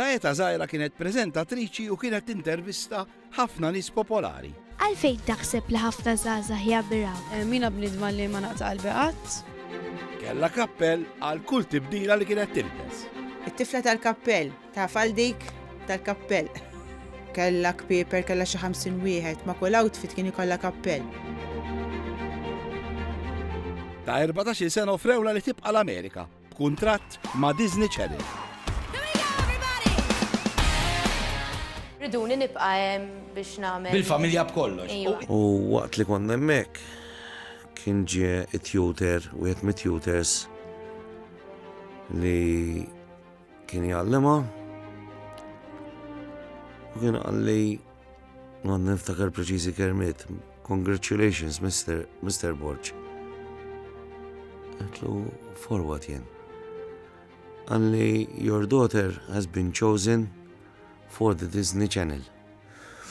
Ta' età żgħira kienet preżentatriċi u kienet tintervista ħafna nies popolari. Għalfejn taħseb li ħafna żgħażagħ jammiraw? Mina bniedma li ma naqta' qalbi qatt. Kellha kappell għal kull tibdila li kienet tilbes. It-tifla tal-kappell Taf għal dik tal-kappell. Kella kpieper kella xi ħamsin wieħed, ma' kull outfit kien ikollha kappell. Ta' 14 sena offrewla li tibqa' l-Amerika b'kuntratt ma' Disney Channel. Riduni nibqa' hemm biex nagħmel. Bil-familja b'kollox. Iva. U waqt li konna hemmhekk kien ġie it-tutor, wieħed mit-tutors li Kien jgħallimha u kien għalli ma niftakar preċiżi kermiet. Congratulations, Mr. Mr. Borg. Għetlu forward jien. Għalli your daughter has been chosen for the Disney Channel.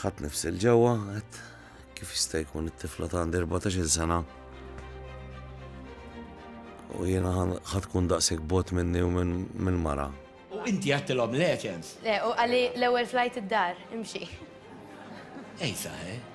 Ħadd nifsi l-ġewwa, għedt kif jista' jkun it-tifla ta' għandi 14-il sena. U jiena ħadd tkun daqshekk bot minni u minn mara. U inti għattilhom leċens? Le, u qalli l-ewwel flajt id-dar, imxi. Ejsa, eh?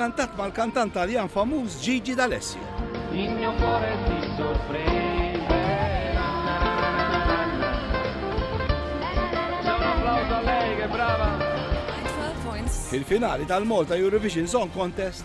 Kantat mal-kantant Taljan famuż Gigi D'Alessio. Fil-finali tal-Malta Eurovision Song Contest,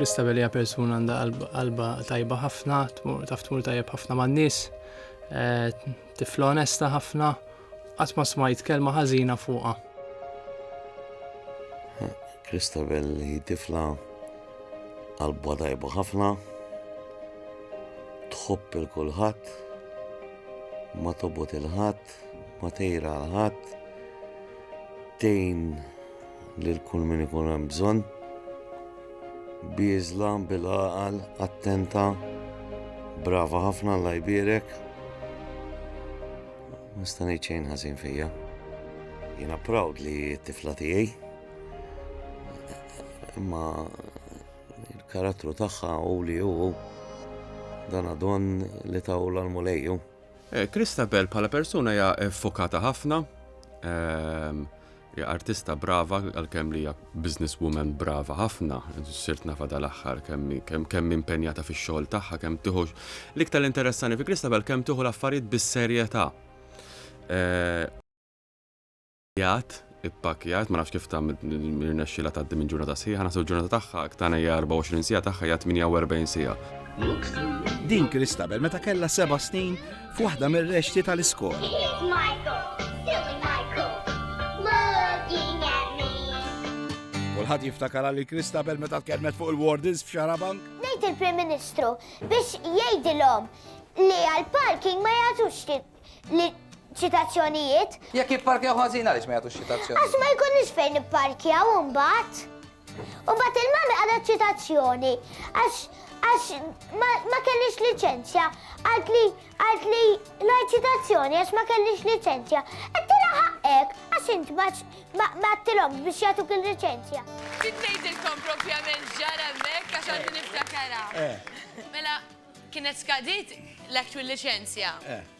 Christabel hija persuna għandha qalba tajba ħafna, taf tmur tajjeb ħafna man-nies, eh, tifla onesta ħafna, qatt ma smajt kelma ħażina fuqha. Christabel hi tifla qalba tajba ħafna, tħobb il kulħadd, ma tobot il-ħadd, ma tejra l-ħadd, tejn Lil kull min ikun hemm bżonn. Bieżla, bil-għaqal, attenta. Brava ħafna Alla jbierek. Ma sta ngħid xejn ħażin fija. Jiena proud li t-tifla tiegħi. Imma il-karattru tagħha u li hu dan għadon li tawla l-mulejju. Kristabel eh, bħala persuna hija fokata ħafna. Ehm, Hija artista brava għalkemm li hija business woman brava ħafna, sirt nafha dal-aħħar kemm hi impenjata fix-xogħol tagħha, kemm tieħu l-iktar li interessani fi Christabel kemm tieħu l-affarijiet bis-serjetà. Jgħid ippakkjat, ma nafx kif ta' rnexxilha tgħaddi minn ġurnata sħiħa, naħseb ġurnata tagħha tagħna hija 24 siegħa tagħha hija 48 siegħa. Din Christabel meta kellha seba' snin f'waħda mir-rexxti tal-iskola. Kulħadd jiftakar għal Kristabel meta tkellmet fuq il-wardens f'Xarabank. Ngħid il-Prim Ministru biex jgħidilhom li għal-parking ma jagħtux li ċitazzjonijiet. Jekk jipparkjaw ħażin għaliex ma jagħtux ċitazzjonijiet. Għax ma jkunx fejn ipparkjaw imbagħad. U mbagħad il-mami qalet ċitazzjoni għax għax ma kellix liċenzja. Għalt li għalt li ngħid ċitazzjoni għax ma kellix liċenzja. Qedtilha ħaqqek għax int ma għattilhomx biex jagħtuk il-liċenzja. Ġiet ngħidilkom propjament ġara hemmhekk għax għandi niftakarha. Eh. Mela kienet skadiet l-actual liċenzja. Eh.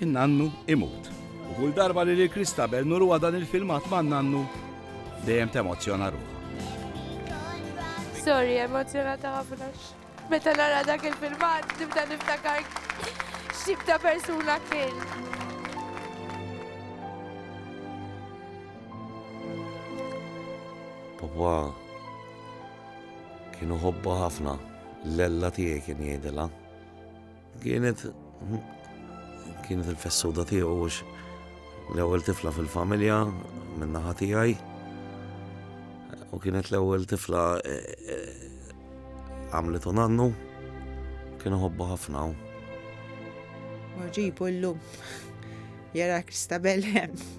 In-nannu imut. U kull darba li lil Christabel nuruha dan il-filmat man-nannu, dejjem temozzjona ruħha. Sorry, emozjonata ħafna. Meta nara dak il-filmat, nibda niftakar x'tip ta' persuna kien. Papa kienu ħobba ħafna, l-ella tiegħi kien jgħidilha. Kienet kienet il-fessowda tiegħu għax l-ewwel tifla fil-familja minn naħa tiegħi u kienet l-ewwel tifla e, e, għamlet u nannu kienu ħobba ħafna. Maġibu l-lum jara Kristabel hemm.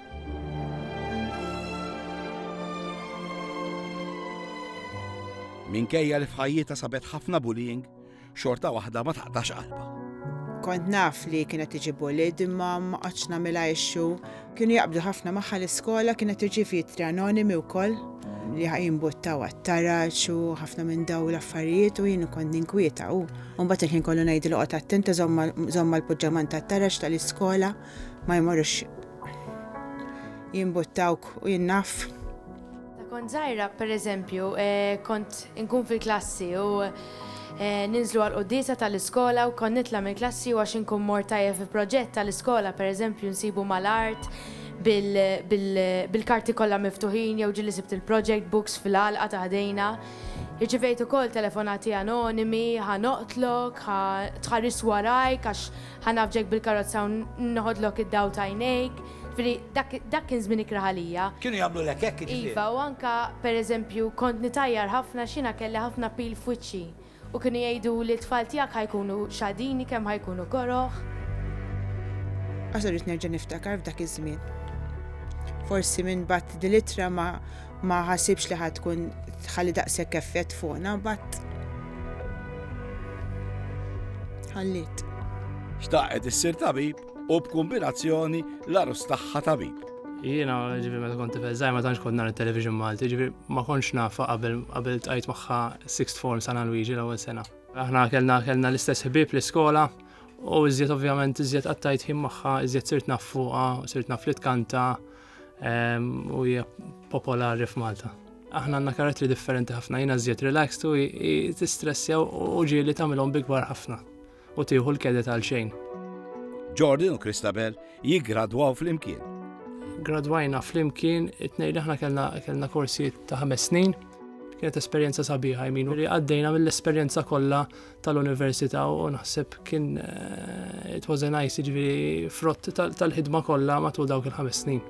Minkejja li f'ħajjita sabet ħafna bullying, xorta waħda ma taqtax qalba. Kont naf li kienet tiġi bullied imma ma qatx nagħmilha issue. Kienu jaqbdu ħafna magħha l-iskola kienet irċiev jittri anonimi wkoll li jimbuttaw għat-taraġ u ħafna minn daw l-affarijiet u jien kont ninkwieta u mbagħad il-ħin kollu ngħidlu qgħod attenta żomma l-puġġaman tat-taraġ tal-iskola. ma jmorrux jimbuttawk u jinnaf. Ta' kont zaħira, per eżempju, eh, kont inkun fil-klassi u eh, ninżlu għal qoddisa tal-iskola u kon nitla mill-klassi u għax inkun mor tajja fi proġett tal-iskola, per eżempju, nsibu mal-art bil-karti kollha miftuħin jew ġili sibt il-project books fil-għalqa ta' ħdejna. Irċivejt ukoll telefonati anonimi, ħa noqtlok, ħa tħaris warajk għax Ħa nagħfġek bil-karozza u neħodlok id-dawl t'għajnejk. Ġifieri dak, dak kien żmien ikrah għalija. Kienu jagħmlulek hekk jiġifieri? Iva, u anke, per eżempju, kont nitgħajjar ħafna għax jiena kelli ħafna pil f'wiċċi. U kienu jgħiduli t-tfal tiegħek ħa jkunu xadini kemm ħa jkunu koroh. Għax irrid nerġa' niftakar f'dak iż-żmien. Forsi minn bgħatt din l-ittra ma, Ma ħasibx li ħad tkun tħalli daqshekk effett fuqna bat. Ħallit. Xtaqet issir tabib u b'kombinazzjoni l-arus tagħha tabib. Jiena ġifi meta kont tifel żgħir ma tantx kont nhar it-television Malti, ġifi ma kontx nafa qabel qabel tqajt magħha sixth form San Luigi l-ewwel sena. Aħna kellna kellna l-istess ħbieb l-iskola u iżjed ovvjament iżjed qattajt ħin magħha, iżjed sirt naf fuqha, sirt naf li tkanta, u hija popolari f'Malta. Aħna għandna karattri differenti ħafna, jiena żjed relaxed u tistressja u ġieli tagħmilhom bigwar ħafna u tieħu l-kedet għal xejn. Jordan u Christabel jiggradwaw flimkien. Gradwajna flimkien, it-tnejn li aħna kellna korsijiet ta' ħames snin, kienet esperjenza sabiħa jminu li għaddejna mill-esperjenza kollha tal-università u naħseb kien eh, it was a nice ġviri frott tal-ħidma kollha matul dawk il-ħames snin.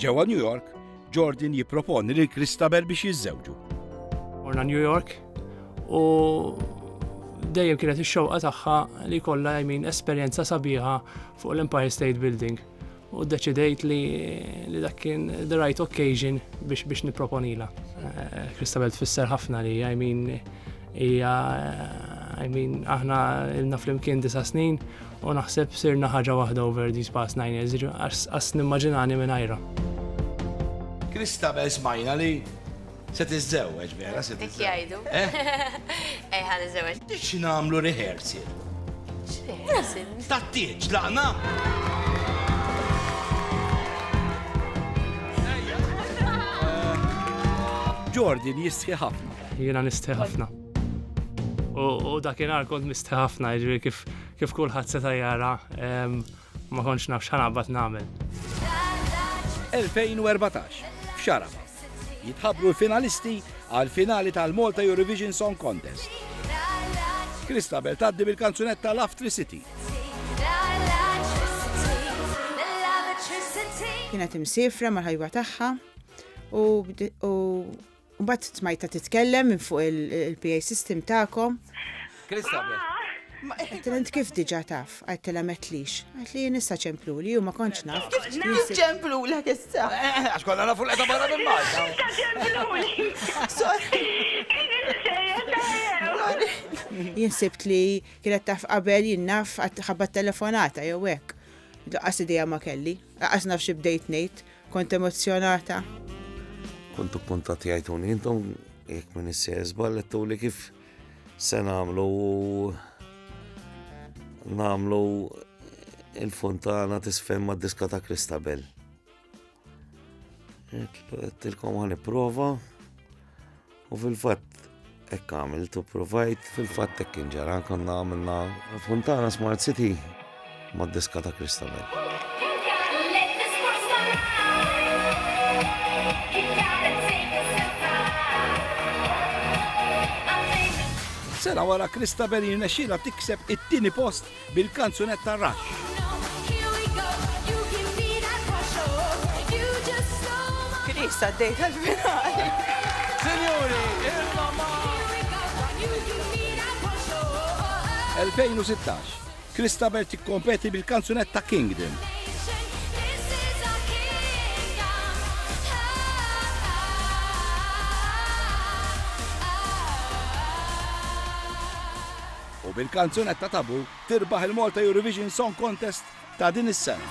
Ġewwa New York, Jordan jipproponi lil Christabel biex jiżżewġu. Morna New York u dejjem kienet ix-xewqa tagħha li kollha jmin esperjenza sabiħa fuq l-Empire State Building. u ddeċidejt li dak kien the right occasion biex biex niproponila. Kristabel eh, tfisser ħafna li, I mean, hija, I mean, aħna ilna flimkien disa snin u naħseb sirna ħaġa waħda over these past nine years, għas nimmaġinani minn ajra. Kristabel smajna li Se tiżżewweġ vera, se tiżżewweġ. Hekk jgħidu. Eh? Eh, ħa niżżewweġ. Biex nagħmlu rehearsal. X'rehearsal? Tat-tieġ, laqna? Jordan jistħi ħafna. Jiena nistħi ħafna. U dakinhar kont mistħi ħafna, jiġri kif kif kulħadd seta' jara ma kontx naf x'ħanaqbad nagħmel. 2014, x'Arafat. Jitħabbru l-finalisti għall-finali tal-Malta Eurovision Song Contest. Christabel tgħaddi bil-kanzunetta Laftri City. Kienet imsifra mal-ħajwa tagħha u mbagħad smajta titkellem minn fuq il-PA system tagħkom. Għattilent kif diġa taf, għattila metlix. Għatli jien issa ċemplu li ju ma konċ naf. Kif ċemplu l issa? Eh, eh, eh, għax konna nafu l-edha barra minn Malta. Issa ċemplu li. Sorry. Jien sibt li kienet taf qabel jien naf ħabba telefonata jew hekk. Daqqas idea ma kelli, daqqas naf xi bdejt ngħid, kont emozjonata. Kontu puntat jgħiduni intom jekk minn issejżbal li kif Se nagħmlu nagħmlu il-fontana tisfem ma' diska ta' Kristabel. Tilkom għan prova u fil-fat ekk għamil tu provajt fil-fat ekk inġara konna għamilna fontana Smart City mad-diska ta' Christabel. Sena wara Christabel jirnexxilha tikseb it-tieni post bil-kanzunetta Rush. Chris għaddej tal-finali. Sinjuri, il-mama! 2016. Christabel tikkompeti bil-kanzunetta Kingdom. U bil-kanzunetta Taboo tirbaħ il-Malta Eurovision Song Contest ta' din is-sena.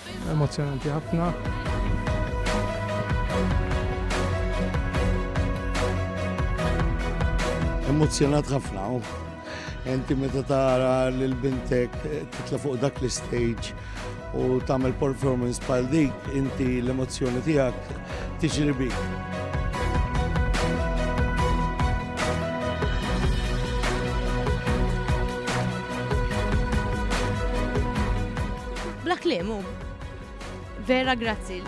Emozzjonanti ħafna. Emozzjonat ħafna. Enti meta tara lil bintek eh, titla fuq dak l-stage u tagħmel performance bħal dik, inti l-emozzjoni tiegħek tiġri bik. Bla kliem hu. Vera grazzi.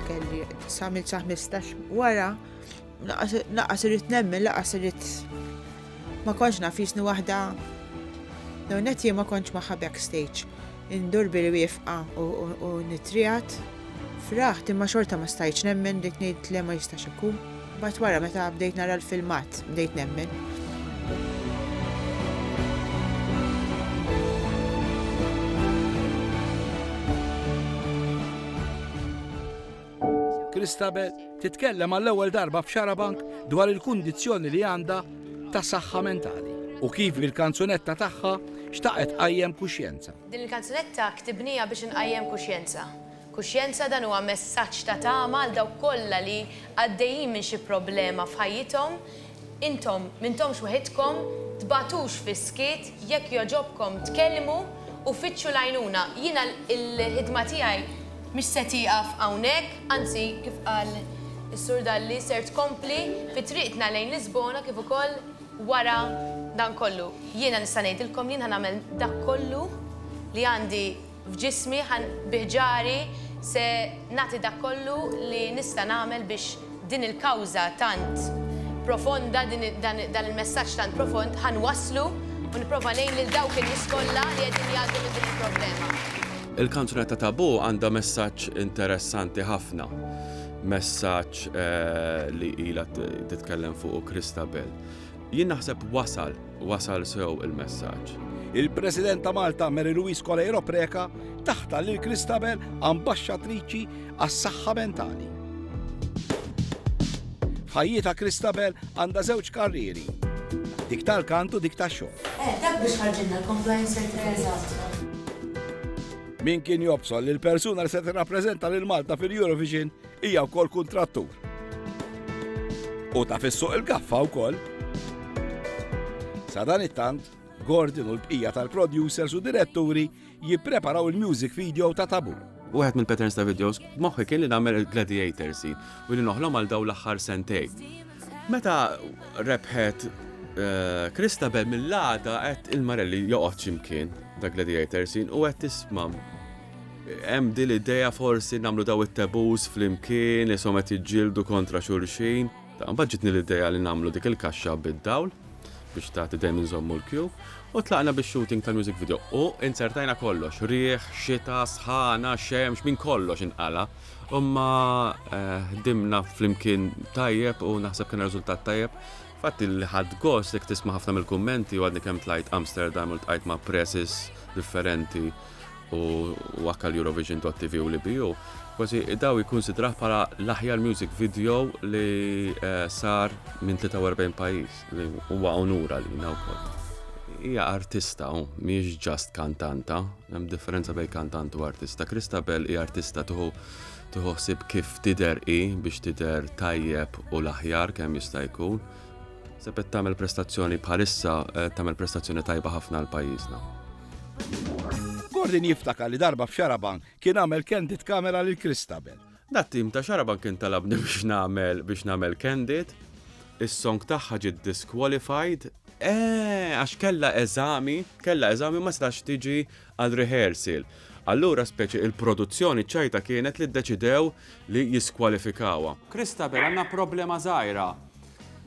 Kelli samil sa 15 wara laqas irrit nemmen, laqas irrit ma konċ nafisni waħda Dawn qed ma konċ magħha backstage. Indur bil-wifqa u nitrijat. Fraħt imma xorta ma stajtx nemmen, bdejt ngħid le ma jistax ikun. Mbagħad wara meta bdejt nara l-filmat, bdejt nemmen. Christabel titkellem għall-ewwel darba f'Xarabank dwar il-kundizzjoni li għandha ta' saħħa mentali u kif bil-kanzunetta tagħha xtaqet tqajjem kuxjenza. Din il-kanzunetta ktibniha biex inqajjem kuxjenza. Kuxjenza dan huwa messaġġ ta' tama għal dawk kollha li għaddejjin minn xi problema f'ħajjithom, intom m'intomx weħidkom, tbagħtux fis-skiet, jekk jogħġobkom tkellmu u fittxu l-għajnuna. Jiena l-ħidma tiegħi mhix se tieqaf hawnhekk, anzi kif qal is-Sur Dalli ser tkompli fi triqtna lejn Lisbona kif ukoll, Wara dan kollu, jiena nista' ngħidilkom li jien ħa nagħmel dak kollu li għandi f'ġismi, bi ħġari se nagħti dak kollu li nista' nagħmel biex din il-kawża tant profonda, dan il-messaġġ tant profond ħa nwasslu u nipprova ngħin lil dawk in-nies kollha li qegħdin jgħaddu minn din il-problema. Il-kanzunetta Taboo għandha messaġġ interessanti ħafna. messaġġ li ilha titkellem fuq Kristabel. Jien naħseb wasal, wasal sew il-messaġġ. Il-President ta' Malta Mary Louise Coleiro Preca taħta lil Kristabel ambaxxatriċi għas-saħħa mentali. F'ħajjita Kristabel għandha żewġ karrieri. Dik tal-kantu dik tax-xogħol. Eh, dak biex ħarġilna l-compliance secretary Min kien jobsol li l-persuna li se tirrappreżenta lil Malta fil-Eurovision hija wkoll kuntrattur. U ta' fissuq il-gaffa wkoll. Sa dan it-tant, Gordon u l-bqija tal-producers u diretturi jippreparaw il-music video ta' tabu. Wieħed mill-patterns ta' videos b'moħħi kien li nagħmel il-gladiator scene u li noħlom għal dawn l-aħħar sentej. Meta rebħet Kristabel mill-għada qed il-Marelli joqgħod x'imkien ta' Gladiator sin u qed tisma' hemm din l-idea forsi nagħmlu daw it-tabus flimkien isom qed jiġġieldu kontra xulxin. Ta' mbagħad ġitni l-idea li nagħmlu dik il-kaxxa bid-dawl biex tagħti dejjem inżommu l-kju u tlaqna bix-shooting tal-music video u inzertajna kollox, riħ, xita, sħana, xemx, minn kollox inqala'. Imma ħdimna flimkien tajjeb u naħseb kien riżultat tajjeb. Fatt li ħadd gost jekk tisma' ħafna mill-kummenti u għadni kemm tlajt Amsterdam u ltqajt ma' presses differenti u anke l-Eurovision dot TV u l-EBU, kważi daw jikkunsidrah bħala l-aħjar music video li sar minn 43 pajjiż, li huwa unur għalina wkoll. Hija artista hawn, mhijiex just kantanta. Hemm differenza bejn kantant u artista. Christabel hi artista tuħu tuħu ħsib kif tider hi biex tider tajjeb u l-aħjar kemm jista' jkun. Sepet tagħmel prestazzjoni bħalissa eh, tagħmel prestazzjoni tajba ħafna l pajjiżna. Gordon jiftakar li darba f'Xaraban kien għamel candid kamera lil Christabel. Dat-tim ta' Xarabank kien talabni biex nagħmel biex nagħmel candid. Is-song tagħha ġiet disqualified. Eeh, għax kellha eżami, kellha eżami ma setax tiġi għal rehearsal. Allura speċi il-produzzjoni ċajta kienet li ddeċidew li jiskwalifikawha. Christabel għandna problema żgħira.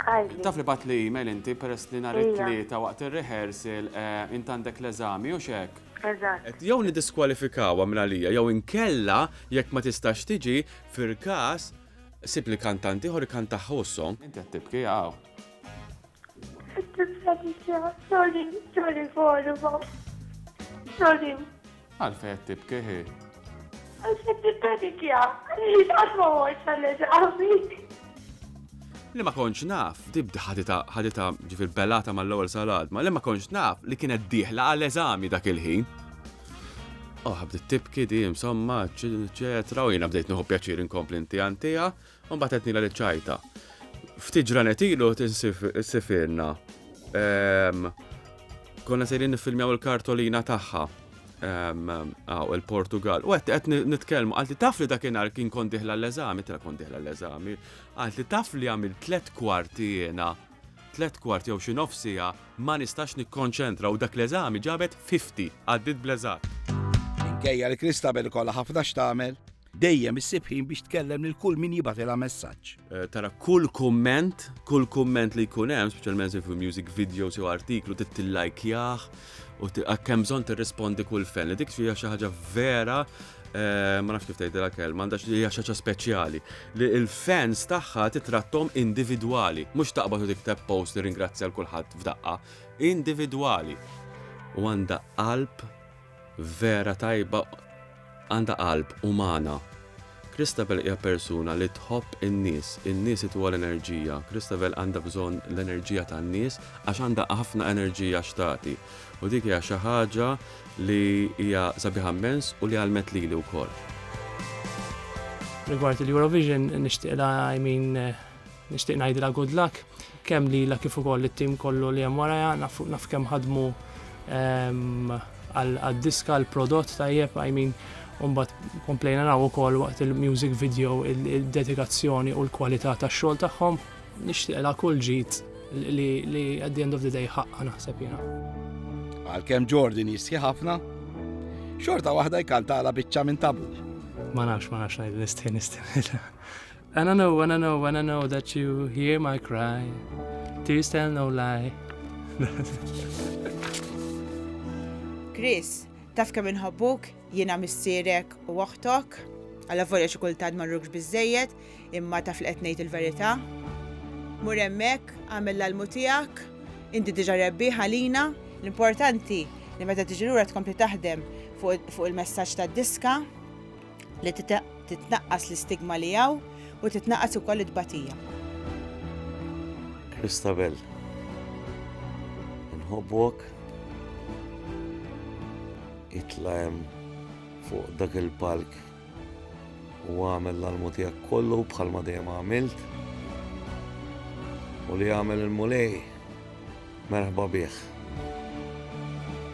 Qalli. Taf li batli email inti peress li nhar it-Tlieta waqt ir-rehearsal int għandek l-eżami, hux hekk? Eżatt. Għedt jew niddiskwalifikawha minn għalija jew inkella jekk ma tistax tiġi, fil-każ, sibli kantant ieħor ikkantaha hu s-song. Inti qed tibki hawn. Qed nibża' diġà. Sorry, sorry Forum. Sorry. Għalfejn qed tibki hi? Għax qed nippanikja, li qatt ma mortx għall-eżami. Li ma kontx naf, dibda ħadita ħadita ġifir belata mal-ewwel sal-għadma, li ma kontx naf li kienet dieħla għall-eżami dak il-ħin. Oh, bdiet tibki di, insomma, ċetra, u jiena bdejt nħu pjaċir inkompli inti għantija, U mbagħad qed nilha li ċajta. Ftit ġranet ilu tinsifirna. Ehm, konna sejrin niffilmjaw il-kartolina tagħha ehm, għaw il-Portugal. U għet għet nitkelmu, għalti taf li dakinhar kien kont diħla l-eżami, tra kont diħla l-eżami, għalti taf li għamil tlet kwarti jena, tlet kwarti jew xi nofsija ma nistax nikkonċentra u dak l-eżami ġabet 50 għaddit bleżat. Minkejja li Kristabel kollha ħafna x'tagħmel, Dejjem issib ħin biex tkellem lil kull min jibatilha messaġġ. Eh, tara kull kumment, kull kumment li jkun hemm, speċjalment fi music videos jew artiklu tittillajkjah u kemm bżonn tirrispondi kull fen. Dik hija xi ħaġa vera eh, ma nafx kif tgħidilha kelma, għandax li hija xi ħaġa speċjali li l-fans tagħha titrattom individwali, mhux taqbad u tikteb post li ringrazzja l kulħadd f'daqqa, individwali. U għandha qalb Vera tajba għandha qalb umana. Christabel hija persuna li tħobb in-nies, in-nies ituha l-enerġija. Christabel għandha bżonn l-enerġija tan-nies għax għandha ħafna enerġija x'tagħti. U dik hija xi ħaġa li hija sabiħa immens u li għalmet lili wkoll. Rigward il-Eurovision nixtieqla I mean Nixtieq ngħidilha good luck kemm lilha kif ukoll it-tim kollu li hemm warajha naf naf kemm ħadmu ehm, għad-diska l-prodott tajjeb I mean Umbat komplejna naw ukoll waqt il-music video il-dedikazzjoni u l-kwalità tax-xogħol tagħhom nixtieqla kull ġid li at the end of the day ħaqqa naħseb jiena. Għalkemm Jordan jistħi ħafna, xorta waħda jkantala biċċa minn tabu. Ma nafx, ma nafx ngħid nistħi nistħi. And I know, and I know, and I know that you hear my cry. Tears tell no lie. Chris, taf kemm inħobbuk, jiena missierek u oħtok, għalla volja xi kultant ma rrugx biżejjed, imma taf li qed ngħid il-verità. Mur hemmhekk, għamel l-almu tiegħek, inti diġà rebbi ħalina, l-importanti li meta tiġi lura tkompli taħdem fuq il-messaġġ tad-diska, li titnaqqas l-istigma li hawn u titnaqqas ukoll it-tbatija. Christabel, inħobbok itla' hemm fuq dak il-palk u għamel l-almu tiegħek kollu bħalma dejjem għamilt u li għamel il-mulej Merħba bih.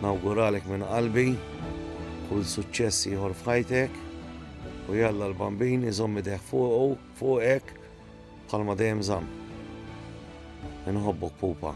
Nawguralek minn qalbi kull suċċess ieħor f'ħajtek u jalla l-Bambin iżomm idejh fuqu, fuqek bħalma dejjem żamm. Inħobbok pupa.